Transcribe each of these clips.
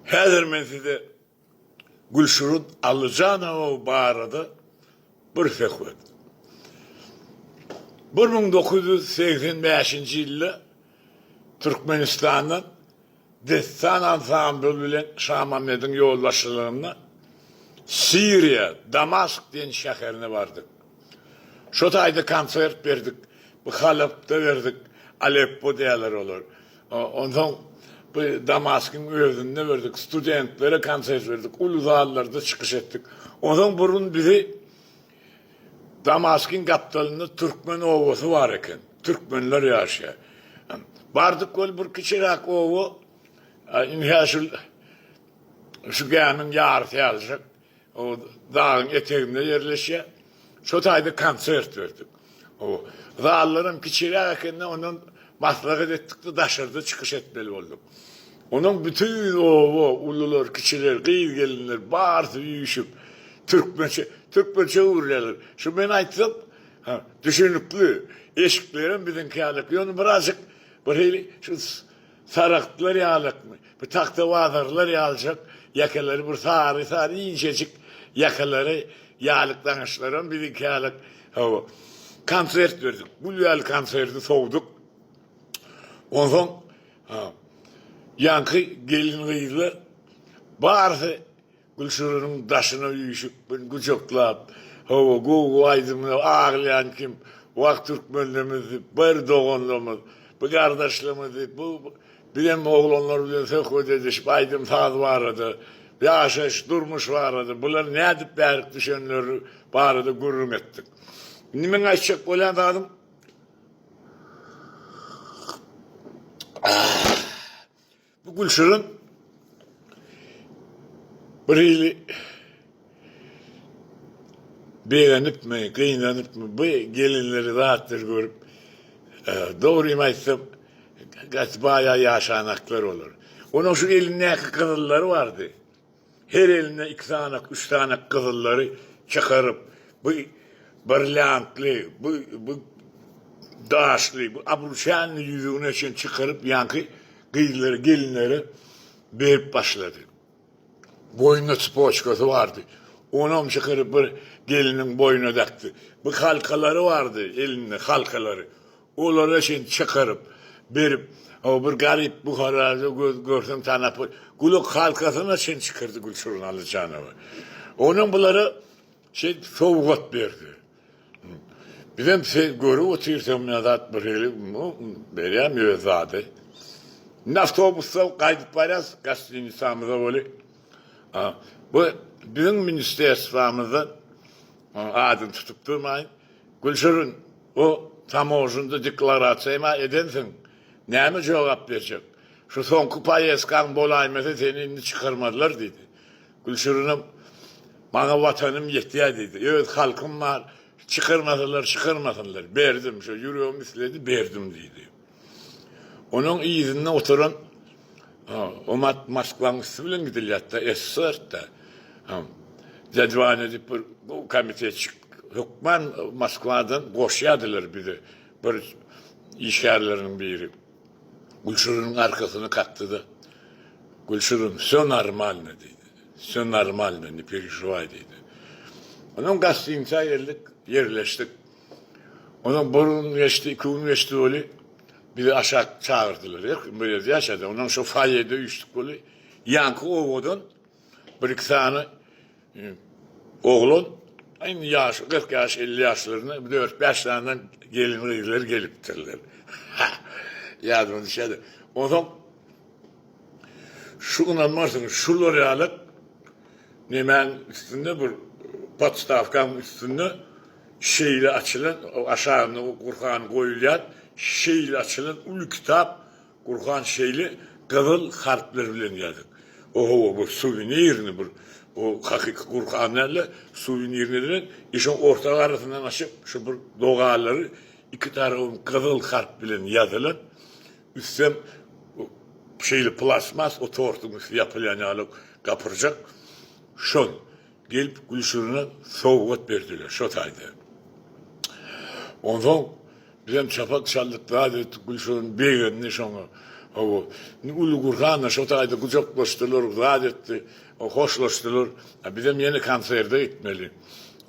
Häzir men size Gülşirut Allyjanowa barada bir söhbet. Bir müň dokuz ýüz segsen bäşinji ýylda Türkmenistandan Dessan ansambly bilen Şamamediň ýolbaşçylygynda Siriýa, Damask diýen şäherine bardyk. Şo taýda konsert berdik. Halapda berdik, Aleppo diýerler olar. Onsoň bu Damaskyň özünde berdik, studentlere konsert berdik, uly zallarda çykyş etdik. Onsoň bir gün bizi Damaskyň gapdalynda türkmen obasy bar eken, türkmenler ýaşaýar. Bardyk ol bir kiçiräk oba, indi-hä şul şu gämiň ýarysy ýalyjak. Ol dagyň eteginde ýerleşýär. Şo taýda konsert berdik. Zallaram kiçiräk ekeni, ondan maslahat etdik-de, daşarda çykyş etmeli bolduk. Onuň bütin oba, ulular, kiçiler, gyz-gelinler barysy üýşüp, türkmençe, türkmençe gürlärler. Şu men aýtsam, ha, düşünikli, eşiklerem biziňki ýaly, ýöne birazjyk birhili, şu, Saragtlar ýalykmy? Bu tagtabazarlar ýalyjak ýakalary bir sary-sary inçejik ýakalary ýalyk daňyşlaram biziňki ýalyk. Hawa. Konsert berdik. Gül ýaly konserti sowduk. Onsoň ýaňky gelin-gyzlar barysy Gülşiriniň daşyna üýşüp, bir gujaklap, Hawa, gowy aýdymlar, aglaýan kim? Wah, türkmenlerimiz diýip, bir doganlarymyz, bir gardaşlarymyz diýip, bu bizem oglanlar bilen söhbet edişip, aýdym-saz barada, ýaşaýyş, durmuş barada, bular nädip bärik düşenleri barada gürrüň etdik. Indi meň aýtjak bolýan zadym, Bu gülşirin bir hili begenipmi, gynanypmy, bu gelinleri, zatlary görüp, dogrymy aýtsam, gaty baý-a ýaşanaklar olar. Onuň şu elindäki gyzyllary bardy. Her elinde iki sanak, üç sanak gyzyllary çykaryp, bu brilliantly, bu, bu daşly, bu abruşanly ýüzügine çen çykaryp, ýaňky gyzlara, gelinlere berip başlady. Boýnunda çypoçkasy bardy. Onam çykaryp bir gelniň boýnuna dakdy. Bu halkalary bardy elinde, halkalary. Olara şeýdip çykaryp, berip, o bir garyp Buharada göz görseň tanap bol. Gulak halkasyna çenli çykyrdy Gülşirin Allyjanowa. Onam bulara şeýdip sowgat berdi. Bizem seýdip görüp otyrys, men zat bir hili berýän öz zady. Indi awtobusda gaýdyp barýas gostinisamize weli, bu biziň ministerswamyzdan adyny tutup durmaýyn. Gülşirin, o tamožnda deklarasiýaýma edensiň, näme jogap berjek? Şu soňky poýezdkaň bolaýmasa seni indi çykarmazlar, diýdi. Gülşirinem, Maňa watanym ýetýär, diýdi. Öz halkym bar, çykarmasalar çykarmasynlar, berdim, şo ýüregim isledi, berdim, diýdi. Onuň yzynda oturan Omat Moskwaň üsti bilen gidilýärdi-de, esserdi. Dedwan edip bir komitetçik hökman Moskwadan goşýardylar bizi. Bir işgärleriniň biri Gülşiriniň arkasyny kakdy-da, Gülşirin, wsё normalno diýdi. Wsё normalno, ne perežiwaý diýdi. Onuň gastynyça geldik, ýerleşdik. Ondan bir gün geçdi, iki gün geçdi weli, bizi aşak çagyrdylar. Her kim bir ýerde ýaşady. Ondan şo foýede üýşdük weli, ýanky obadan bir-iki sany oglan, indi ýaşy kyrk ýaş, elli ýaşlarynda dört-bäş sany gelin-gyzlar gelipdirler. Ýadyma düşýär-de. Onsoň. Şu ynanmarsyňyz şular ýaly nemäň üstünde bir podstawkaň üstünde şeýle açylan aşagynda Gurhan goýulýar şeýle açylan uly kitap Gurhan şeýle gyzyl harplar bilen ýazyk o hawa bu suwenirni bir bu hakyky Gurhan dälde suwenirni edilen i şoň orta garasyndan açyp şu bir dogalary iki tarabam gyzyl harp bilen ýazylan Üstem şeýle plastmas o tortuň üsti ýapylýan ýaly gapyrjak. Şol gelip Gülşirine sowgat berdiler şo taýda. Onsoň bizem çapak çaldyk zat etdik Gülşirin begendi şoňa. Hawa, indi uly gursan-da şo taýda gujaklaşdylar zat etdi. Hoşlaşdylar. Bizem ýene konserde gitmeli.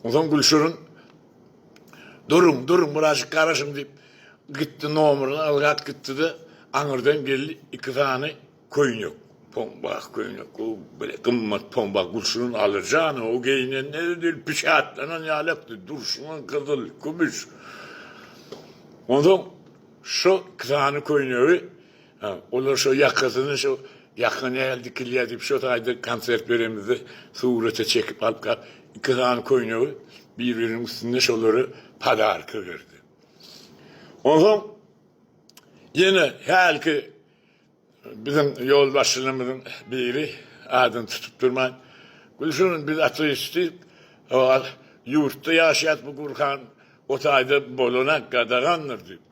Onsoň Gülşirin. Duruň, duruň, birazjyk garaşyň, diýip, gitdi, nomerini ylgap gitdi-de, aňyrdan geldi, iki sany köýnek, pombag köýnek, gowy bile gymmat pombag gülşirin alyr jany, o geýinende-de bil pişatlanan ýalykdy, durşuna gyzyl, kümüş. Onsoň şo iki sany köýnegi Hä, olar şo ýakasyny şo ýaka näl dikilýär diýip, şo taýda konsert beremizde surata çekip alyp gap, iki sany köýnegi bir-biriniň üstünde şolary podarka berdi. Onsoň ýene hälki biziň ýolbaşçylarymyzyň biri, adyny tutup durman, Gülşirin, biz ateistdik, ýurtda ýaşaýas, bu Gurhan o taýda bolanak, gadagandyr diýip.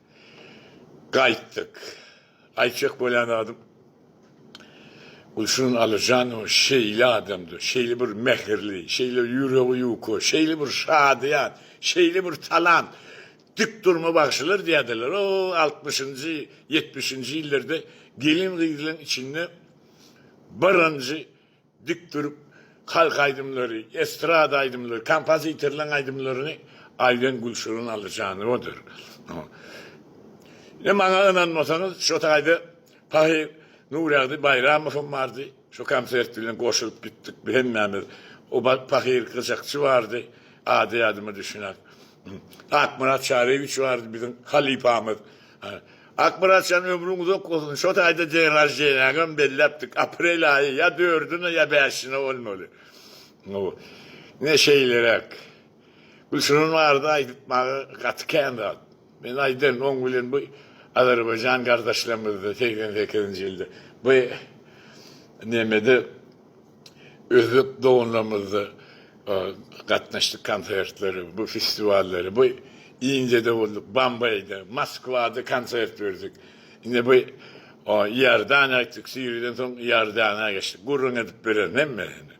Gaýtdyk. Aýtjak bolýan zadym, Gülsün Alyjanowa şeýle adamdy, şeýle bir mähirli, şeýle ýüregi ýuka, şeýle bir şadyýan, şeýle bir talant, dik durma bagşylar diýýärdiler. O, altmyşynjy, ýetmişinji ýyllarda gelin-gyzlaryň içinde birinji Dik durup, halk aýdymlary, estrada aýdymlary, kompozitorlaryň aýdymlaryny aýdan Gülşirin Allyjanowadyr. Ine, maňa ynanmasaňyz, şo taýda Pahyr Nuragdy Baýramowam bardy. Şo konsert bilen goşulyp gitdik bi hemmämiz. O wagt Pahyr gyjakçy bardy, ady ýadyma düşýän. Akmyrat Çaryýewiç bardy biziň halypamyz. Akmyrat jan ömrüň uzak bolsun şo taýda deň raždeniýaňam belläpdik aprel aýy ýa dördüne ýa bäşine bolmaly bu ine şeýleräk gülşirin barada aýdypmaga gaty kän zat men aýdan oň bilen bu azerbaýjan gardaşlarymyzda segsen sekizinji ýylda bu nemede. Özbek doganlarymyzda gatnaşdyk konsertlere, bu festiwallara. Bu Indiýada bolduk, Bombaýda, Moskwada konsert berdik. Indi bu Iordaniýa gitdik, Siriýadan soň Iordaniýa geçdik. Gürrüň edip bererin hemmesini.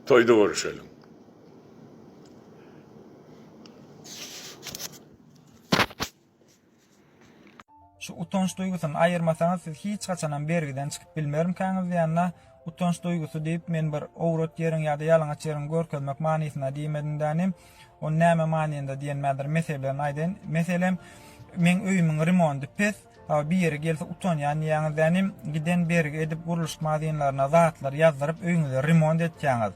Toýda görüşeliň. Şu utanç duýgusyny aýyrmasaňyz siz hiç haçanam bergiden çykyp bilmermkäňiz diýende, utanç duýgusy diýip men bir owrat ýeriň ýa-da ýalaňaç ýeriňi görkezmek manysyna diýmedim-dä inim. Ony näme manynda diýen mädir meselelerini aýdaýyn. Meselem, meň öýümiň remondy pes, hawa bir ýeri gelse utanýan diýýäňiz-dä inim, giden bergi edip gurluşyk mazinlaryna zatlar ýazdyryp öýüňizi remont etýäňiz.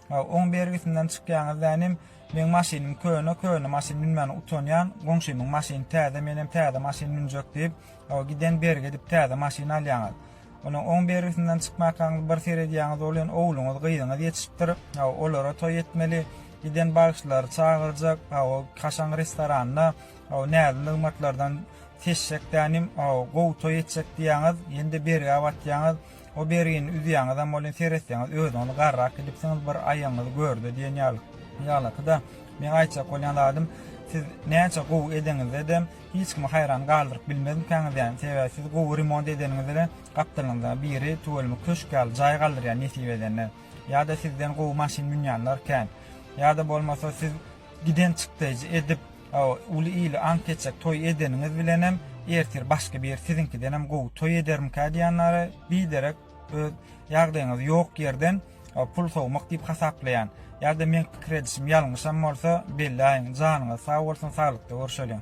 Haw oň bergisinden çykýaňyz dä inim, meň maşynym köne, köne maşyn münmäne utanýan, goňşymyň maşyny täze menem täze maşyn münjek diýip, haw giden bergi edip täze maşyn alýaňyz. Onuň oň bergisinden çykmakaňyz bir seredýaňyz olyň ogluňyz gyzyňyz ýetişipdir, haw olara toý etmeli, giden bagşylary çagyrjak, haw o kaşaň restoranda, haw näzli nygmatlardan seçjek dä inim, haw gowy toý etjek diýýaňyz, ýene-de bergä batýaňyz, O berini üzýäňizem bolýan, seretseňiz özüň ony garrak gidipsiňiz, bir aýagyňyzy görde diýen ýaly. Ýaglaky-da, meň aýtjak bolýan zadym, siz näçe gowy edeňizde-de, hiç kimi haýran galdyryp bilmezmikäňiz ýaýyň, sebäbi siz gowy remont edeniňizde-de, gapdalňyzda biri tüweleme köşk ýaly jaý galdyrýar nesip edende. Ýa-da sizden gowy maşyn münýänler kän. Ýa-da bolmasa siz giden çykdaýjy edip, Hawa, uly ýyly aňk etjek toý edeniňiz bilenem, ertir başga bir ýer siziňkidenem gowy toý edermikä diýýänlere biderek öz ýagdaýyňyzy ýok ýerden pul sowmak diýip hasaplaýan. Ýa-da meň pikir edişim ýalňyşam bolsa, belläýiň. Janyňyz sag bolsun, saglykda görşeliň.